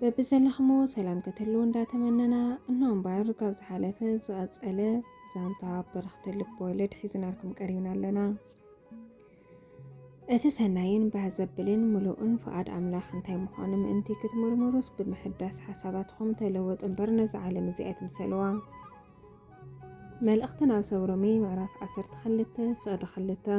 በብዘለኽሞ ሰላም ክትህልው እንዳተመነና እኖ እምበር ካብ ዝሓለፈ ዝቐፀለ ዛንታ በረኽቲ ልቦወለድ ሒዝናልኩም ቀሪብና ኣለና። እቲ ሰናይን ባህ ዘብልን ምሉእን ፍቓድ ኣምላኽ እንታይ ምዃኑ ምእንቲ ክትምርምሩስ ብምሕዳስ ሓሳባትኹም ተለወጡ እምበር ነዚ ዓለም እዚ ኣይትምሰልዋ። መልእኽቲ ናብ ሰብ ሮሜ ምዕራፍ 12 ፍቕዲ 2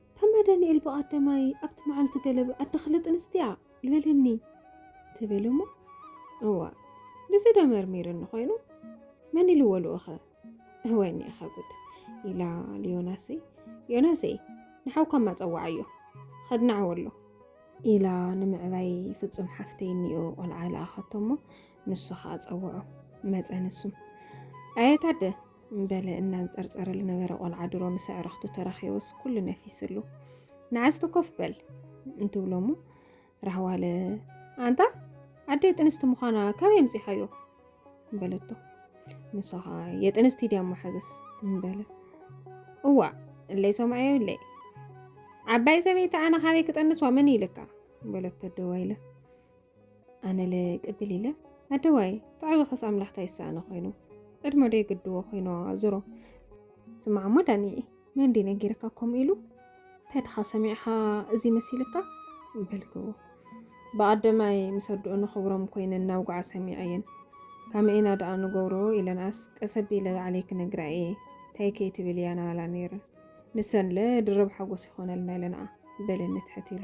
ታማ ዳንኤል ብቐዳማይ ኣብቲ መዓልቲ ገለ ብኣዲ ክልጥ ኣንስትያ ልበለኒ ትብል እሞ እዋ ንዚ ዶ መርሚርኒ ኮይኑ መን ኢልዎ ልኡኸ እወ ኒኢኻ ጉድ ኢላ ልዮናሰይ ዮናሰይ ንሓውካ ማፀዋዓዮ ኸድናዓዎ ኣሎ ኢላ ንምዕባይ ፍፁም ሓፍተይ እኒኦ ቆልዓ ልኣኸቶ እሞ ንሱ ከዓ ፀውዖ መፀ ንሱ ኣየታደ በለ እናንጸርጸረ ልነበረ ቆልዓ ድሮ ምስ ኣዕርኽቱ ተራኺቡስ ኩሉ ነፊስሉ ንዓስቲ ኮፍ በል እንትብሎ እሞ ራህዋለ ኣንታ ኣደይ ጥንስቲ ምዃና ካበይ ኣምጺኻዮ በለቶ ንሱ ኸዓ የጥንስቲ ድያ እሞ ሓዝስ በለ እዋ እለይ ሰምዐዮ እለይ ዓባይ ሰበይቲ ኣነ ካበይ ክጠንስዋ መን ኢልካ በለቶ ደው ኢለ ኣነለ ቅብል ኢለ ኣደዋይ ተዓዊኸስ ኣምላኽ ታይ ይሰኣኖ ኮይኑ ዕድመ ዶ ይግድዎ ኮይኑ ዞሮ ስማዕ እሞ ዳኒ መን ዲ ነጊርካ ከምኡ ኢሉ እንታይ ድኻ ሰሚዕኻ እዚ መሲልካ በልክዎ ብኣደማይ ምስ ኣድኦ ንኽብሮም ኮይነን ናብ ጉዓ ሰሚዐየን ካመኤና ደኣ ንገብሮ ኢለንኣስ ቀሰቢ ኢለ ባዕለይ ክነግራ እየ እንታይ ከይትብል እያ ናባላ ነይረን ንሰንለ ድርብ ሓጎስ ይኾነልና ኢለንኣ በለኒ ትሕት ኢሉ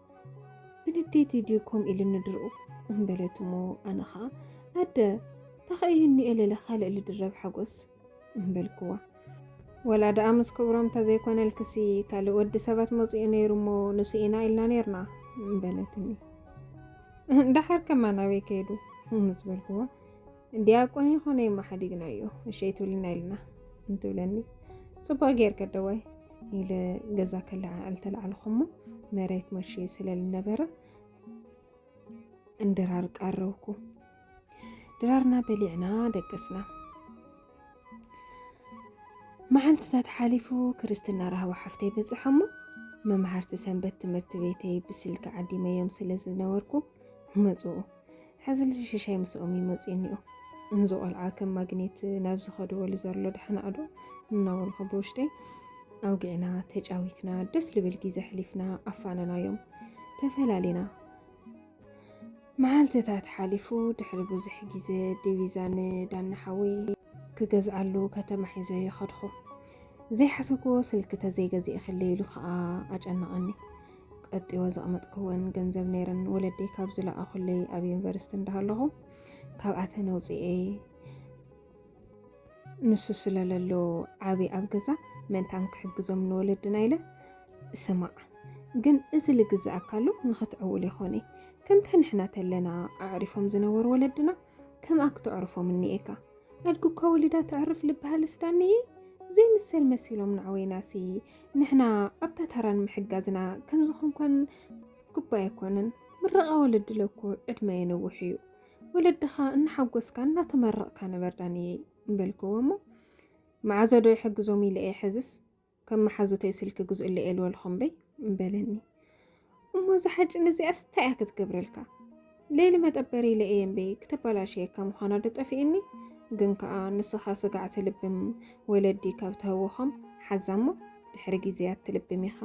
ብንዴት እዩ ድዩ ከምኡ ኢሉኒ ድርኡ እምበለት እሞ ኣነ ኸዓ ኣደ ታኸእዩ ንኤለለ ካልእ ልድረብ ሓጎስ እምበልክዋ ወላ ደኣ ምስ ክብሮም ተዘይኮነልክሲ ካልእ ወዲ ሰባት መፂኡ ነይሩ እሞ ንስኢና ኢልና ነይርና እምበለትኒ ዳሓር ከማን ኣበይ ከይዱ ምስ በልክዋ እንዲያቆን የኾነ የማሓዲግናዮ እሸይ ትብልና ኢልና እንትብለኒ ፅቡቅ ጌርክ ደዋይ ኢለ ገዛ ከለዓዕል ተላዕልኹሞ መሬት መሽዩ ስለ ዝነበረ እንድራር ቀረብኩ ድራርና በሊዕና ደቅስና መዓልትታት ሓሊፉ ክርስትና ራህዋ ሓፍተይ በፅሐሞ መምሃርቲ ሰንበት ትምህርቲ ቤተይ ብስልኪ ዓዲመዮም ስለ ዝነበርኩ መፁኡ ሕዚ ልጅ ሽሻይ ምስኦም እዩ መፅኡ እኒኦ እዚ ቆልዓ ከም ማግኔት ናብ ዝኸድዎ ልዘሎ ዳሕናዕዶ እናበልኩ ብውሽጠይ ኣውጊዕና ተጫዊትና ደስ ልብል ጊዜ ኣሕሊፍና ኣፋነናዮም ተፈላሊና መዓልትታት ሓሊፉ ድሕሪ ብዙሕ ግዜ ዲቪዛ ንዳኒ ሓወይ ክገዝኣሉ ከተማ ሒዘ ይኸድኹ ዘይሓሰብክዎ ስልኪ ተዘይገዚእክለ ኢሉ ከዓ ኣጨነቐኒ ቀጥዎ ዘቕመጥክወን ገንዘብ ነይረን ወለደይ ካብ ዝለኣኹለይ ኣብ ዩኒቨርሲቲ እንዳሃለኹ ካብኣተን ኣውፅኤ ንሱ ስለለሎ ዓብ ኣብ ገዛ ምእንታን ክሕግዞም ንወለድና ኢለ ስማዕ ግን እዚ ልግዝኣካሉ ንኽትዕውል ይኾነ ከምታ ንሕና ተለና ኣዕሪፎም ዝነበሩ ወለድና ከምኣ ክተዕርፎም እኒኤካ ኣድግኳ ወሊዳ ተዕርፍ ልበሃልስ ዳንየ ዘይምሰል መሲሎም ናዕወይናሲ ንሕና ኣብታ ተራን ምሕጋዝና ከምዝኾንኮን ጉባኤ ኣይኮንን ምረቓ ወለዲ ለኮ ዕድመ የንውሕ እዩ ወለድኻ እናሓጎስካ እናተመረቕካ ንበር ዳንየይ እምበልክዎ እሞ መዓዘ ዶ ይሕግዞም ኢለ እየ ሕዝስ ከም መሓዙተይ ስልኪ ግዝኡለይ ኤልወልኹም በይ እምበለኒ እሞ እዛ ሓጭን እዚኣስ እንታይ እያ ክትገብረልካ? ሌሊ መጠበሪ ኢለ እየ እምበይ ክተበላሽየካ ምዃና ዶ ጠፊእኒ? ግን ከኣ ንስኻ ስጋዕ ትልብም ወለዲ ካብ ተህውኾም ሓዛ እሞ ድሕሪ ግዜ ኣትልብም ኢኻ።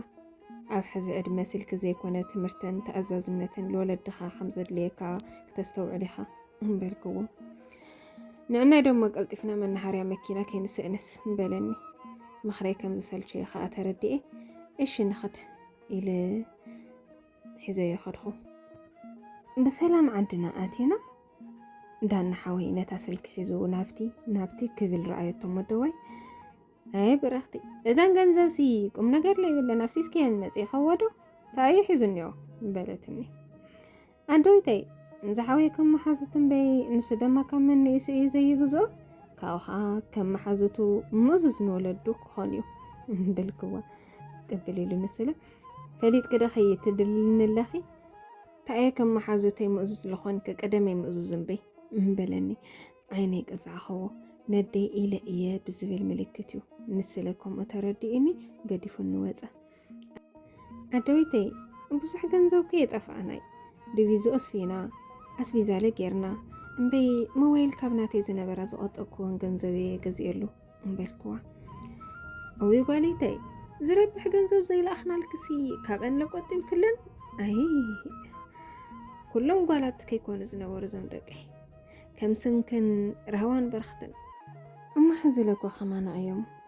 ኣብ ሕዚ ዕድመ ስልኪ ዘይኮነ ትምህርትን ተኣዛዝነትን ልወለድኻ ከም ዘድልየካ ክተስተውዕል ኢኻ እምበልክዎ። ንዕናይ ደሞ ቀልጢፍና መናሃርያ መኪና ከይንስእንስ እምበለኒ። ምኽረይ ከም ዝሰልቸየ ከኣ ተረዲኤ እሺ ንኽድ ኢለ ሒዘዮ ከድኹ። ብሰላም ዓድና ኣቲና ዳና ሓወይ ነታ ስልኪ ሒዙ ናብቲ ናብቲ ክብል ረኣየቶ መደዋይ ኣይ ብረኽቲ እዘን ገንዘብ ሲ ቁም ነገር ለይብለን ኣብ ሲስኪየን መፅእ ከወዶ ታዩ ሒዙ እኒኦ በለትኒ። ኣደዊተይ ንዝሓወይ ከም መሓዙቱ እምበይ ንሱ ደማ ካብ መነኢሱ እዩ ዘይግዝኦ ካብኡ ከዓ ከም መሓዙቱ ምእዙዝ ንወለዱ ክኾን እዩ ብልክዋ ቅብል ኢሉ ንስለ ፈሊጥ ቅደ ከይትድልንለኺ ታየ ከም መሓዙተይ ምእዙዝ ዝኾንክ ቅደመይ ምእዙዝ እምበይ እምበለኒ ዓይነይ ቀፃዕኸዎ ነደይ ኢለ እየ ብዝብል ምልክት እዩ ንስለ ከምኡ ተረዲኡኒ ገዲፉ ንወፀ ኣደዊተይ ብዙሕ ገንዘብ ከ የጠፋእናይ ድቪዙ ኣስፊና ኣስቢዛለ ጌርና እምበይ ሞባይል ካብ ናተይ ዝነበራ ዝቆጠብኩዎን ገንዘብ እየ ገዚኤሉ እምበልክዋ እዊ ጓሊተይ ዝረብሕ ገንዘብ ዘይለኣኽናልክሲ ካብአን ለቆጢብ ክለን ኣይ ኩሎም ጓላት ከይኮኑ ዝነበሩ ዞም ደቀይ ከም ስንክን ራህዋን በርክትን እማ ሕዚ ለጓ ከማና እዮም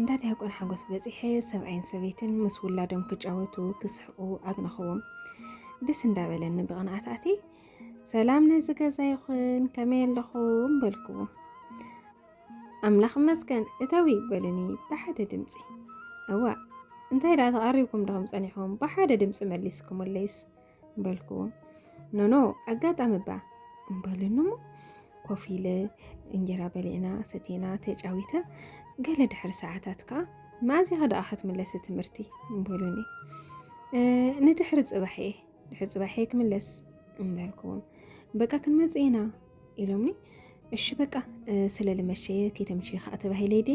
እንዳ ዲያቆን ሓጎስ በፂሐ ሰብኣይን ሰበይትን ምስ ውላዶም ክጫወቱ ክስሕቁ ኣግነኽዎም ደስ እንዳበለኒ ብቕንዓት ኣቲ ሰላም ነዚ ገዛ ይኹን ከመይ ኣለኹም በልክዎ ኣምላኽ መስገን እተዊ በልኒ ብሓደ ድምፂ እዋ እንታይ ደኣ ተቐሪብኩም ዶኹም ፀኒሕኩም ብሓደ ድምፂ መሊስኩምለይስ በልኩዎ ኖኖ ኣጋጣሚ እባ እምበሉኒ እሞ ኮፍ ኢለ እንጀራ በሊዕና ሰቴና ተጫዊተ ገለ ድሕሪ ሰዓታት ከዓ መኣዝኻ ደኣ ክትምለስ ትምህርቲ እምበሉኒ ንድሕሪ ፅባሕ እየ ድሕሪ ፅባሕ እየ ክምለስ እምበልኩዎም በቃ ክንመፅ ኢና ኢሎምኒ እሺ በቃ ስለ ልመሸየ ከይተምሽየ ከዓ ተባሂለ ይዴ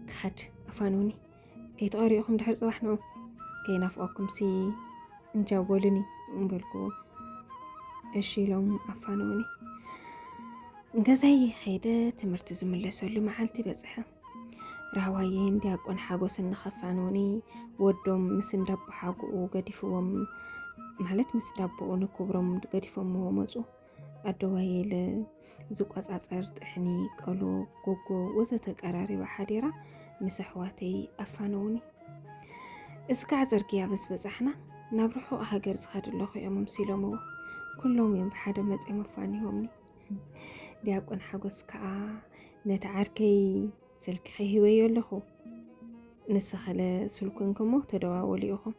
ክኸድ ኣፋንውኒ ከይተቐሪኡኹም ድሕሪ ፅባሕ ንዑ ከይናፍቐኩም ሲ እንጃ በሉኒ እምበልኩዎ እሺ ኢሎም ኣፋነውኒ ገዛይ ኸይደ ትምህርቲ ዝምለሰሉ መዓልቲ በፅሐ ራህዋየን ዲያቆን ሓጎስን ንኸፋንውኒ ወዶም ምስ እንዳቦሓጉኡ ገዲፍዎም ማለት ምስ ዳቦኡ ንክብሮም ገዲፎምዎ መፁ ኣደዋየለ፣ ዝቆጻጸር ጥሕኒ፣ ቀሎ፣ ጎጎ ወዘተ ቀራሪባ ሓዲራ ምስ ኣሕዋተይ ኣፋነዉኒ። እስካዕ ጽርግያ ምስ በጻሕና ናብ ርሑቕ ሃገር ዝኸድ ኣለኹ እዮም ኣምሲሎምዎ። ኩሎም እዮም ብሓደ መጺኦም ኣፋኒሆምኒ። ዲያቆን ሓጎስ ከዓ ነቲ ዓርከይ ስልክኺ ሂበዮ ኣለኹ ንስኸለ ስልኩ እንክሞ ተደዋወሉ ኢኹም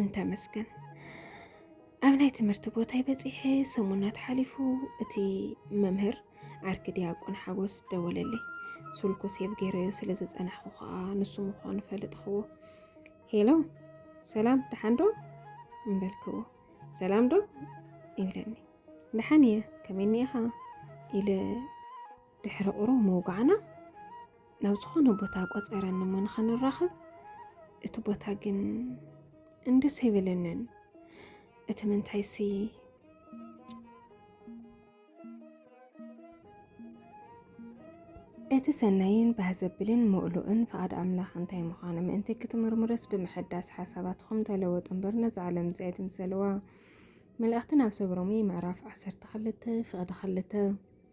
እንተመስገን ኣብ ናይ ትምህርቲ ቦታይ በፂሐ ሰሙናት ሓሊፉ እቲ መምህር ዓርኪ ዲያቆን ሓጎስ ደወለለይ ሱልኩ ሴብ ገይረዮ ስለ ዝፀናሕኩ ከዓ ንሱ ምኳኑ ፈልጥክዎ ሄሎ ሰላም ደሓን ዶ እምበልክዎ ሰላም ዶ ይብለኒ ደሓን እየ ከመይ እኒኢኻ ኢለ ድሕሪ ቁሩብ ምውጋዕና ናብ ዝኾነ ቦታ ቆፀረኒ እሞ ንኸንራኸብ እቲ ቦታ ግን እንደስ ኣይበለንን እቲ ምንታይሲ እቲ ሰናይን ባህ ዘብልን ምእሉእን ፍቓድ ኣምላኽ እንታይ ምዃኑ ምእንቲ ክትምርምረስ ብምሕዳስ ሓሳባትኹም ተለወጡ እምበር ነዚ ዓለም እዚ ኣይትምሰልዋ መልእኽቲ ናብ ሰብ ሮሜ ምዕራፍ 12 ፍቕዲ 2